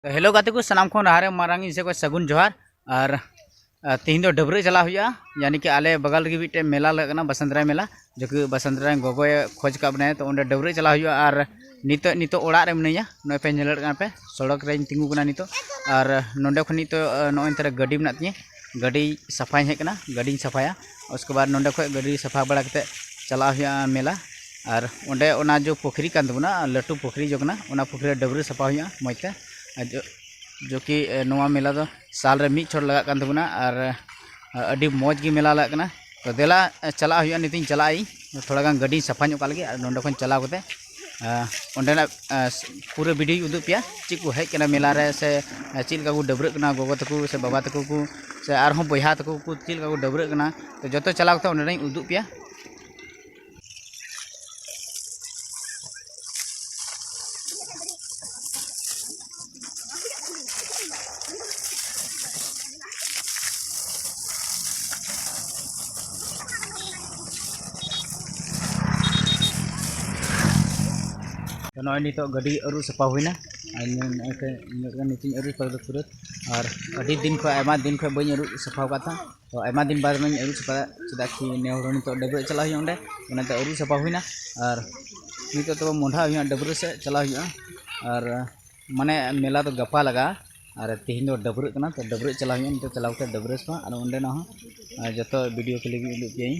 hello ᱜᱟᱛᱮ ᱠᱚ ᱥᱟᱱᱟᱢ ᱠᱷᱚᱱ ᱞᱟᱦᱟᱨᱮ ᱢᱟᱨᱟᱝ ᱤᱧ ᱥᱮ ᱠᱷᱚᱱ ᱥᱟᱹᱜᱩᱱ ᱡᱚᱦᱟᱨ ᱟᱨ ᱛᱮᱦᱮᱧ ᱫᱚ ᱰᱟᱹᱵᱽᱨᱟᱹᱜ ᱪᱟᱞᱟᱜ ᱦᱩᱭᱩᱜᱼᱟ ᱭᱟᱱᱤ ᱠᱤ ᱟᱞᱮ ᱵᱟᱜᱟᱞ ᱨᱮᱜᱮ ᱢᱤᱫᱴᱮᱱ ᱢᱮᱞᱟ ᱞᱟᱜᱟᱜ ᱠᱟᱱᱟ ᱵᱟᱥᱟᱱᱛᱨᱟᱭ ᱢᱮᱞᱟ ᱡᱚ ᱠᱤ ᱵᱟᱥᱟᱱᱛᱨᱟᱭ ᱜᱚᱜᱚᱭ ᱠᱷᱚᱡᱽ ᱠᱟᱜ ᱵᱚᱱᱟᱭ ᱛᱚ ᱚᱸᱰᱮ ᱰᱟᱹᱵᱽᱨᱟᱹᱜ ᱪᱟᱞᱟᱜ ᱦᱩᱭᱩᱜᱼᱟ ᱟᱨ ᱱᱤᱛᱚᱜ ᱱᱤᱛᱚᱜ ᱚᱲᱟᱜ ᱨᱮ ᱢᱤᱱᱟᱹᱧᱟ ᱱᱚᱜᱼᱚᱭ ᱯᱮ ᱧᱮᱞ ᱫᱟᱲᱮᱭᱟᱜ ᱠᱟᱱᱟ ᱯᱮ ᱥᱚᱲᱚᱠ ᱨᱮᱧ ᱛᱤᱸᱜᱩ ᱠᱟᱱᱟ ᱱᱤᱛᱚᱜ ᱟᱨ ᱱᱚᱸᱰᱮ ᱠᱷᱚᱱ ᱱᱤᱛᱚᱜ ᱱᱚᱜᱼᱚᱭ ᱱᱚᱛᱮ ᱨᱮ ᱜᱟᱹᱰᱤ ᱢᱮᱱᱟᱜ ᱛᱤᱧᱟᱹ ᱜᱟᱹᱰᱤ ᱥᱟᱯᱷᱟᱭᱤᱧ ᱦᱮᱡ ᱠᱟᱱᱟ ᱜᱟᱹᱰᱤᱧ ᱥᱟᱯᱷᱟᱭᱟ ᱩᱥᱠᱮ ᱵᱟᱫᱽ ᱱᱚᱰᱮ ᱠᱷᱚᱱ ᱜᱟᱹᱰᱤ ᱥᱟᱯᱷᱟ ᱵᱟᱲᱟ ᱠᱟᱛᱮ ᱪᱟᱞᱟᱜ ᱦᱩᱭᱩᱜᱼᱟ ᱢᱮᱞᱟ ᱟᱨ ᱚᱸᱰᱮ ᱚᱱᱟ ᱡᱚ ᱯᱩᱠᱷᱨᱤ ᱠᱟᱱ ᱛᱟᱵᱚᱱᱟ ᱞᱟᱹᱴᱩ ᱯᱩᱠᱷᱨᱤ ᱡᱚ ᱠᱟᱱᱟ ᱚᱱᱟ ᱯᱩᱠᱷᱨᱤ ᱨᱮ ᱰᱟᱹᱵᱽᱨᱟᱹ ᱥᱟᱯᱷᱟ ᱦᱩᱭᱩᱜᱼᱟ ᱢᱚᱡᱽ ᱛᱮ ᱟᱨ ᱡᱚ ᱡᱚ ᱠᱤ ᱱᱚᱣᱟ ᱢᱮᱞᱟ ᱫᱚ ᱥᱟᱞ ᱨᱮ ᱢᱤᱫ ᱪᱷᱚᱴ ᱞᱟᱜᱟᱜ ᱠᱟᱱ ᱛᱟᱵᱚᱱᱟ ᱟᱨ ᱟᱹᱰᱤ ᱢᱚᱡᱽ ᱜᱮ ᱢᱮᱞᱟ ᱞᱟᱜᱟᱜ ᱠᱟᱱᱟ ᱛᱚ ᱫᱮᱞᱟ ᱪᱟᱞᱟᱜ ᱦᱩᱭᱩᱜᱼᱟ ᱱᱤᱛᱤᱧ ᱪᱟᱞᱟᱜ ᱟᱹᱧ ᱛᱷᱚᱲᱟ ᱜᱟᱱ ᱜᱟᱹᱰᱤᱧ ᱥᱟᱯᱷᱟ ᱧᱚᱜ ᱠᱟᱜ ᱞᱮᱜᱮ ᱟᱨ ᱱᱚᱰᱮ ᱠᱷᱚᱱ ᱪᱟᱞᱟᱣ ᱠᱟᱛᱮ ᱚᱸᱰᱮᱱᱟᱜ ᱯᱩᱨᱟᱹ ᱵᱷᱤᱰᱤᱭᱳᱧ ᱩᱫᱩᱜ ᱯᱮᱭᱟ ᱪᱮᱫ ᱠᱚ ᱦᱮᱡ ᱠᱟᱱᱟ ᱢᱮᱞᱟ ᱨᱮ ᱥᱮ ᱪᱮᱫ ᱞᱮᱠᱟ ᱠᱚ ᱰᱟᱹᱵᱽᱨᱟᱹᱜ ᱠᱟᱱᱟ ᱜᱚᱜᱚ ᱛᱟᱠᱚ ᱥᱮ ᱵᱟᱵᱟ ᱛᱟᱠᱚ ᱠᱚ ᱥᱮ ᱟᱨᱦᱚᱸ ᱵᱚᱭᱦᱟ ᱛᱟᱠᱚ ᱠᱚ ᱪᱮᱫ ᱞᱮᱠᱟ ᱠᱚ ᱰᱟᱹᱵᱽᱨᱟᱹᱜ ᱠᱟᱱᱟ ᱛᱚ ᱡᱚᱛᱚ ᱪᱟᱞᱟᱣ ᱠᱟᱛᱮᱫ ᱚᱸᱰᱮᱱᱟᱜ ᱩᱫᱩᱜ ᱯᱮᱭᱟ ᱱᱚᱜᱼᱚᱭ ᱱᱤᱛᱚᱜ ᱜᱟᱹᱰᱤ ᱟᱹᱨᱩᱵ ᱥᱟᱯᱷᱟ ᱦᱩᱭᱱᱟ ᱟᱨ ᱱᱚᱜᱼᱚᱭ ᱛᱮ ᱤᱧᱟᱹᱜ ᱜᱮ ᱱᱤᱛᱚᱜ ᱤᱧ ᱟᱹᱨᱩᱵ ᱥᱟᱯᱷᱟ ᱠᱮᱫᱟ ᱯᱩᱨᱟᱹ ᱟᱨ ᱟᱹᱰᱤ ᱫᱤᱱ ᱠᱷᱚᱱ ᱟᱭᱢᱟ ᱫᱤᱱ ᱠᱷᱚᱱ ᱵᱟᱹᱧ ᱟᱹᱨᱩᱵ ᱥᱟᱯᱷᱟ ᱟᱠᱟᱫ ᱛᱟᱦᱮᱸᱫ ᱛᱚ ᱟᱭᱢᱟ ᱫᱤᱱ ᱵᱟᱫᱽ ᱤᱧ ᱟᱹᱨᱩᱵ ᱥᱟᱯᱷᱟᱭᱟ ᱪᱮᱫᱟᱜ ᱠᱤ ᱱᱮ ᱦᱚᱲ ᱦᱚᱸ ᱱᱤᱛᱚᱜ ᱰᱟᱹᱵᱽᱨᱟᱹᱜ ᱪᱟᱞᱟᱜ ᱦᱩᱭᱩᱜᱼᱟ ᱚᱸᱰᱮ ᱚᱱᱟᱛᱮ ᱟᱹᱨᱩᱵ ᱥᱟᱯᱷᱟ ᱦᱩᱭᱱᱟ ᱟᱨ ᱱᱤᱛᱚᱜ ᱛᱚᱵᱮ ᱢᱚᱦᱰᱟ ᱦᱩᱭᱩᱜᱼᱟ ᱰᱟᱹᱵᱽᱨᱟᱹᱜ ᱥᱮᱫ ᱪᱟᱞᱟᱜ ᱦᱩᱭᱩᱜᱼᱟ ᱟᱨ ᱢᱟᱱᱮ ᱢᱮᱞᱟ ᱫᱚ ᱜᱟᱯᱟ ᱞᱟᱜᱟᱜᱼᱟ ᱟᱨ ᱛᱮᱦᱮᱧ ᱫᱚ ᱰᱟᱹᱵᱽᱨᱟᱹᱜ ᱠᱟᱱᱟ ᱛᱚ ᱰᱟᱹᱵᱽᱨᱟᱹᱜ ᱪᱟᱞᱟᱜ ᱦᱩᱭᱩᱜᱼᱟ ᱱᱤᱛᱚᱜ ᱪᱟᱞᱟᱣ ᱠᱟᱛᱮᱫ ᱰᱟᱹᱵᱽᱨᱟᱹ ᱥᱟᱯᱷᱟ ᱟᱨ ᱚᱸᱰᱮᱱᱟᱜ ᱦᱚᱸ ᱡᱚᱛᱚ ᱵᱷᱤᱰᱤᱭᱳ ᱠᱞᱤᱯ ᱤᱧ ᱩᱫᱩᱜ ᱯᱮᱭᱟᱹᱧ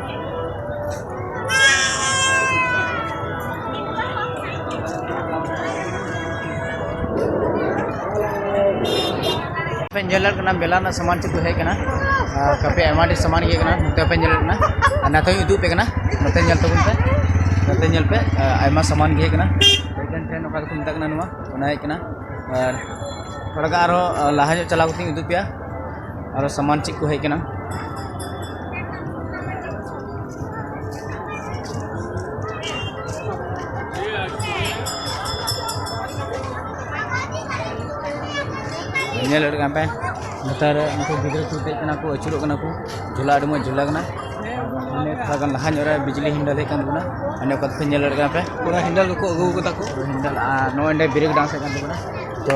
ᱯᱮ ᱧᱮᱞ ᱫᱟᱲᱮᱭᱟᱜ ᱠᱟᱱᱟ ᱢᱮᱞᱟ ᱨᱮᱱᱟᱜ ᱥᱟᱢᱟᱱ ᱪᱮᱫ ᱠᱚ ᱦᱮᱡ ᱠᱟᱱᱟ ᱟᱨ ᱠᱟᱯᱮ ᱟᱭᱢᱟ ᱰᱷᱮᱨ ᱥᱟᱢᱟᱱ ᱜᱮ ᱠᱟᱱᱟ ᱱᱚᱛᱮ ᱯᱮ ᱧᱮᱞ ᱫᱟᱲᱮᱭᱟᱜ ᱠᱟᱱᱟ ᱟᱨ ᱱᱚᱛᱮ ᱦᱚᱸᱧ ᱩᱫᱩᱜ ᱟᱯᱮ ᱠᱟᱱᱟ ᱱᱚᱛᱮ ᱧᱮᱞ ᱛᱟᱵᱚᱱ ᱯᱮ ᱱᱚᱛᱮ ᱧᱮᱞ ᱯᱮ ᱟᱭᱢᱟ ᱥᱟᱢᱟᱱ ᱜᱮ ᱦᱮᱡ ᱠᱟᱱᱟ ᱴᱨᱮᱱ ᱴᱨᱮᱱ ᱚᱠᱟ ᱫᱚᱠᱚ ᱢᱮᱛᱟᱜ ᱠᱟᱱᱟ ᱱᱚᱣᱟ ᱚᱱᱟ ᱦᱮᱡ ᱠᱟᱱᱟ ᱟᱨ ᱛᱷᱚᱲᱟ ᱜᱟᱱ ᱟᱨᱦᱚᱸ ᱞᱟᱦᱟ ᱧᱚᱜ ᱪᱟᱞᱟᱣ ᱠᱟᱛᱮᱧ ᱩᱫᱩᱜ ᱟᱯᱮᱭᱟ ᱟᱨᱚ ᱥᱟᱢᱟᱱ ᱪᱮᱫ ᱠᱚ ᱦᱮᱡ ᱠᱟᱱᱟ ᱧᱮᱞ ᱞᱮᱫ ᱠᱟᱱ ᱯᱮ ᱱᱮᱛᱟᱨ ᱩᱱᱠᱩ ᱜᱤᱫᱽᱨᱟᱹ ᱠᱚ ᱫᱮᱡ ᱠᱟᱱᱟ ᱠᱚ ᱟᱹᱪᱩᱨᱚᱜ ᱠᱟᱱᱟ ᱠᱚ ᱡᱷᱚᱞᱟ ᱟᱹᱰᱤ ᱢᱚᱡᱽ ᱡᱷᱚᱞᱟ ᱠᱟᱱᱟ ᱢᱟᱱᱮ ᱛᱷᱚᱲᱟ ᱜᱟᱱ ᱞᱟᱦᱟ ᱧᱚᱜ ᱨᱮ ᱵᱤᱡᱽᱞᱤ ᱦᱤᱱᱰᱟᱞ ᱦᱮᱡ ᱠᱟᱱ ᱛᱟᱵᱚᱱᱟ ᱢᱟᱱᱮ ᱚᱠᱟ ᱫᱚᱯᱮ ᱧᱮᱞ ᱫᱟᱲᱮᱭᱟᱜ ᱠᱟᱱᱟ ᱯᱮ ᱯᱩᱨᱟᱹ ᱦᱤᱱᱰᱟᱞ ᱠᱚᱠᱚ ᱟᱹᱜᱩ ᱠᱟᱫᱟ ᱠᱚ ᱦᱤᱱᱰᱟᱞ ᱟᱨ ᱱᱚᱜᱼᱚᱭ ᱱᱚᱰᱮ ᱵᱨᱮᱠ ᱰᱟᱱᱥ ᱦᱮᱡ ᱠᱟᱱ ᱛᱟᱵᱚᱱᱟ ᱛᱚ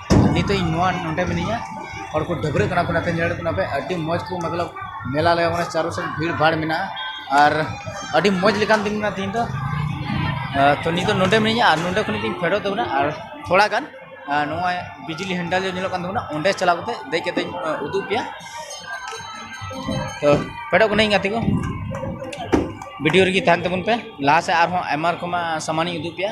ᱱᱤᱛᱚᱜ ᱤᱧ ᱱᱚᱣᱟ ᱱᱚᱰᱮ ᱢᱤᱱᱟᱹᱧᱟ ᱦᱚᱲ ᱠᱚ ᱰᱟᱹᱵᱽᱨᱟᱹᱜ ᱠᱟᱱᱟ ᱠᱚ ᱚᱱᱟᱛᱮ ᱧᱮᱞᱚᱜ ᱠᱟᱱᱟ ᱟᱹᱰᱤ ᱢᱚᱡᱽ ᱠᱚ ᱢᱚᱛᱞᱚᱵ ᱢᱮᱞᱟ ᱞᱟᱜᱟᱣ ᱠᱟᱱᱟ ᱪᱟᱨᱳ ᱥᱮᱫ ᱵᱷᱤᱲ ᱵᱷᱟᱲ ᱢᱮᱱᱟᱜᱼᱟ ᱟᱨ ᱟᱹᱰᱤ ᱢᱚᱡᱽ ᱞᱮᱠᱟᱱ ᱫᱤᱱ ᱠᱟᱱᱟ ᱛᱮᱦᱮᱧ ᱫᱚ ᱛᱳ ᱱᱤᱛ ᱫᱚ ᱱᱚᱰᱮ ᱢᱤᱱᱟᱹᱧᱟ ᱟᱨ ᱱᱚᱰᱮ ᱠᱷᱚᱱ ᱜᱤᱧ ᱯᱷᱮᱰᱚᱜ ᱛᱟᱵᱚᱱᱟ ᱟᱨ ᱛᱷᱚᱲᱟ ᱜᱟᱱ ᱱᱚᱜᱼᱚᱸᱭ ᱵᱤᱡᱽᱞᱤ ᱦᱮᱱᱰᱮᱞ ᱡᱟᱦᱟᱸ ᱧᱮᱞᱚᱜ ᱠᱟᱱ ᱛᱟᱵᱚᱱᱟ ᱚᱸᱰᱮ ᱪᱟᱞᱟᱣ ᱠᱟᱛᱮᱫ ᱫᱮᱡ ᱠᱟᱛᱮᱫ ᱤᱧ ᱩᱫᱩᱜ ᱟᱯᱮᱭᱟ ᱛᱳ ᱯᱷᱮᱰᱚᱜ ᱠᱟᱹᱱᱟᱹᱧ ᱜᱟᱛᱮ ᱠᱚ ᱵᱷᱤᱰᱤᱭᱳ ᱨᱮᱜᱮ ᱛᱟᱦᱮᱱ ᱛᱟᱵᱚᱱ ᱯᱮ ᱞᱟᱦᱟ ᱥᱮᱫ ᱟᱨᱦᱚᱸ ᱟᱭᱢᱟ ᱨᱚᱠᱚᱢᱟᱜ ᱥᱟᱢᱟᱱᱤᱧ ᱩᱫᱩᱜ ᱟᱯᱮᱭᱟ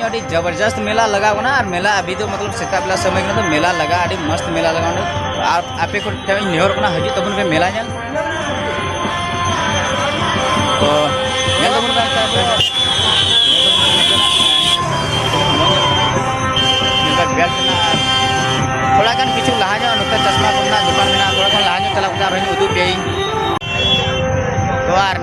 ᱟᱹᱰᱤ ᱡᱚᱵᱚᱨᱡᱚᱥᱛ ᱢᱮᱞᱟ ᱞᱟᱜᱟᱣ ᱠᱟᱱᱟ ᱟᱨ ᱢᱮᱞᱟ ᱟᱵᱤ ᱫᱚ ᱢᱚᱛᱞᱚᱵ ᱥᱮᱛᱟᱜ ᱵᱮᱞᱟ ᱥᱚᱢᱚᱭ ᱠᱟᱱᱟ ᱛᱚ ᱢᱮᱞᱟ ᱞᱟᱜᱟ ᱟᱹᱰᱤ ᱢᱚᱥᱛ ᱢᱮᱞᱟ ᱞᱟᱜᱟᱣ ᱚᱸᱰᱮ ᱟᱨ ᱟᱯᱮ ᱠᱚ ᱴᱷᱮᱱ ᱤᱧ ᱱᱮᱦᱚᱨ ᱠᱟᱱᱟ ᱦᱤᱡᱩᱜ ᱛᱟᱵᱚᱱ ᱯᱮ ᱢᱮᱞᱟ ᱧᱮᱞ ᱛᱚ ᱧᱮᱞ ᱛᱟᱵᱚᱱ ᱯᱮ ᱛᱷᱚᱲᱟ ᱜᱟᱱ ᱠᱤᱪᱷᱩ ᱞᱟᱦᱟ ᱧᱚᱜ ᱱᱚᱛᱮ ᱪᱟᱥᱢᱟ ᱠᱚᱨᱮᱱᱟᱜ ᱫᱚᱠᱟᱱ ᱢᱮᱱᱟᱜᱼᱟ ᱛᱷᱚᱲᱟ ᱜᱟᱱ ᱞᱟᱦᱟ ᱧᱚᱜ ᱪᱟᱞᱟᱣ ᱠᱟᱛᱮ ᱟᱨᱦᱚᱸᱧ ᱩᱫᱩᱜ ᱯᱮᱭᱟᱹᱧ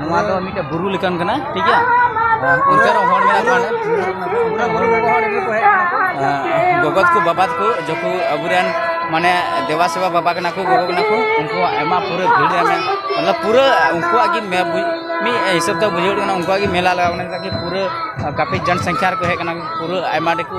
ᱱᱚᱣᱟ ᱫᱚ ᱢᱤᱫᱴᱮᱱ ᱵᱩᱨᱩ ᱞᱮᱠᱟᱱ ᱠᱟᱱᱟ ᱴᱷᱤᱠ ᱜᱮᱭᱟ ᱚᱱᱛᱮ ᱨᱮ ᱦᱚᱲ ᱢᱮᱱᱟᱜ ᱠᱚᱣᱟ ᱜᱚᱜᱚᱛ ᱠᱚ ᱵᱟᱵᱟᱛ ᱠᱚ ᱡᱚᱠᱷᱚ ᱟᱵᱚᱨᱮᱱ ᱢᱟᱱᱮ ᱫᱮᱵᱟ ᱥᱮᱵᱟ ᱵᱟᱵᱟ ᱠᱟᱱᱟ ᱠᱚ ᱜᱚᱜᱚ ᱠᱟᱱᱟ ᱠᱚ ᱩᱱᱠᱩᱣᱟᱜ ᱟᱭᱢᱟ ᱯᱩᱨᱟᱹ ᱵᱷᱤᱲ ᱨᱮ ᱢᱚᱛᱞᱚᱵ ᱯᱩᱨᱟᱹ ᱩᱱᱠᱩᱣᱟᱜ ᱜᱮ ᱢᱤᱫ ᱦᱤᱥᱟᱹᱵ ᱛᱮ ᱵᱩᱡᱷᱟᱹᱣ ᱠᱟᱱᱟ ᱩᱱᱠᱩᱣᱟᱜ ᱜᱮ ᱢᱮᱞᱟ ᱞᱟᱜᱟᱣ ᱠᱟᱱᱟ ᱯᱩᱨᱟᱹ ᱠᱟᱯᱷᱤ ᱡᱚᱱ ᱥᱚᱝᱠᱷᱟ ᱨᱮᱠᱚ ᱦᱮᱡ ᱠᱟᱱᱟ ᱯᱩᱨᱟᱹ ᱟᱭᱢᱟ ᱰᱷᱮᱨ ᱠᱚ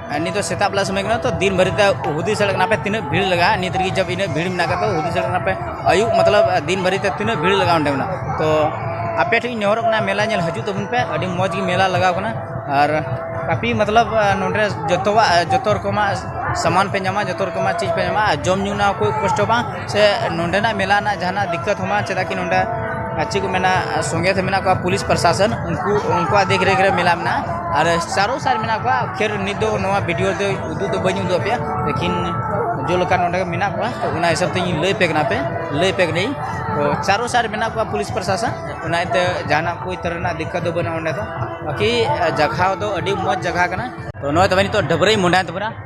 ᱱᱤᱛ ᱫᱚ ᱥᱮᱛᱟᱜ ᱵᱮᱞᱟ ᱥᱚᱢᱚᱭ ᱠᱟᱱᱟ ᱛᱚ ᱫᱤᱱ ᱵᱷᱟᱹᱨᱤ ᱛᱮ ᱦᱩᱫᱤᱥ ᱫᱟᱲᱮᱭᱟᱜ ᱠᱟᱱᱟ ᱯᱮ ᱛᱤᱱᱟᱹᱜ ᱵᱷᱤᱲ ᱞᱟᱜᱟᱜᱼᱟ ᱱᱤᱛ ᱨᱮᱜᱮ ᱡᱚᱵ ᱤᱱᱟᱹᱜ ᱵᱷᱤᱲ ᱢᱮᱱᱟᱜ ᱠᱟᱫᱟ ᱦᱩᱫᱤᱥ ᱫᱟᱲᱮᱭᱟᱜ ᱠᱟᱱᱟ ᱯᱮ ᱟᱹᱭᱩᱵ ᱢᱚᱛᱞᱚᱵ ᱫᱤᱱ ᱵᱷᱟᱹᱨᱤ ᱛᱮ ᱛᱤᱱᱟᱹᱜ ᱵᱷᱤᱲ ᱞᱟᱜᱟᱜᱼᱟ ᱚᱸᱰᱮ ᱢᱮᱱᱟᱜ ᱛᱚ ᱟᱯᱮ ᱴᱷᱮᱱ ᱤᱧ ᱱᱮᱦᱚᱨᱚᱜ ᱠᱟᱱᱟ ᱢᱮᱞᱟ ᱧᱮᱞ ᱦᱤᱡᱩᱜ ᱛᱟᱵᱚᱱ ᱯᱮ ᱟᱹᱰᱤ ᱢᱚᱡᱽ ᱜᱮ ᱢᱮᱞᱟ ᱞᱟᱜᱟᱣ ᱠᱟᱱᱟ ᱟᱨ ᱠᱟᱯᱷᱤ ᱢᱚᱛᱞᱚᱵ ᱱᱚᱰᱮ ᱡᱚᱛᱚᱣᱟᱜ ᱡᱚᱛᱚ ᱨᱚᱠᱚᱢᱟᱜ ᱥᱟᱢᱟᱱ ᱯᱮ ᱧᱟᱢᱟ ᱡᱚᱛᱚ ᱨᱚᱠᱚᱢᱟᱜ ᱪᱤᱡᱽ ᱯᱮ ᱧᱟᱢᱟ ᱟᱨ ᱡᱚᱢ ᱧᱩ ᱨᱮᱱᱟᱜ ᱠᱳᱭ ᱠᱚᱥᱴᱚ ᱵᱟᱝ ᱥᱮ ᱱᱚᱰᱮᱱᱟᱜ ᱢᱮᱞᱟ ᱨᱮᱱᱟᱜ ᱡᱟᱦᱟᱱᱟᱜ ᱫᱤᱠᱠᱟᱹᱛ ᱦᱚᱸ ᱵᱟᱝ ᱪᱮᱫᱟᱜ ᱠᱤ ᱱᱚᱰᱮ ᱟᱨ ᱪᱮᱫ ᱠᱚ ᱢᱮᱱᱟ ᱥᱚᱸᱜᱮ ᱛᱮ ᱢᱮᱱᱟᱜ ᱠᱚᱣᱟ ᱯᱩᱞᱤᱥ ᱯᱨᱚᱥᱟᱥᱚᱱ ᱩᱱᱠᱩ ᱩᱱᱠᱩᱣᱟᱜ ᱫᱮᱠᱷ ᱨᱮᱠᱷ ᱨᱮ ᱢᱮᱞᱟ ᱢᱮᱱᱟᱜᱼᱟ ᱟᱨ ᱪᱟᱨᱳ ᱥᱟᱭᱤᱰ ᱢᱮᱱᱟᱜ ᱠᱚᱣᱟ ᱯᱷᱤᱨ ᱱᱤᱛ ᱫᱚ ᱱᱚᱣᱟ ᱵᱷᱤᱰᱭᱳ ᱫᱚ ᱩᱫᱩᱜ ᱫᱚ ᱵᱟᱹᱧ ᱩᱫᱩᱜ ᱟᱯᱮᱭᱟ ᱞᱮᱠᱤᱱ ᱡᱮ ᱞᱮᱠᱟ ᱱᱚᱰᱮ ᱢᱮᱱᱟᱜ ᱠᱚᱣᱟ ᱛᱳ ᱚᱱᱟ ᱦᱤᱥᱟᱹᱵ ᱛᱤᱧ ᱞᱟᱹᱭ ᱟᱯᱮ ᱠᱟᱱᱟ ᱯᱮ ᱞᱟᱹᱭ ᱟᱯᱮ ᱠᱟᱹᱱᱟᱹᱧ ᱛᱳ ᱪᱟᱨᱳ ᱥᱟᱭᱤᱰ ᱢᱮᱱᱟᱜ ᱠᱚᱣᱟ ᱯᱩᱞᱤᱥ ᱯᱨᱚᱥᱟᱥᱚᱱ ᱚᱱᱟ ᱤᱭᱟᱹᱛᱮ ᱡᱟᱦᱟᱱᱟᱜ ᱠᱚ ᱛᱚᱨᱦᱚᱸ ᱨᱮᱱᱟᱜ ᱫᱤᱠᱠᱟᱹᱛ ᱫᱚ ᱵᱟᱹᱱᱩᱜᱼᱟ ᱱᱚᱰᱮ ᱫᱚ ᱵᱟᱹᱠᱤ ᱡᱟᱭᱜᱟ ᱫᱚ ᱟᱹᱰᱤ ᱢᱚᱡᱽ ᱡᱟᱭᱜᱟ ᱠᱟᱱᱟ ᱛᱳ ᱱᱚᱜᱼᱚᱭ ᱛᱚᱵᱮ ᱱᱤᱛᱚᱜ ᱰᱟᱹᱵᱽᱨᱟᱹ ᱤᱧ ᱢᱚᱦᱰᱟᱭᱮᱱ ᱛᱟᱵᱚᱱᱟ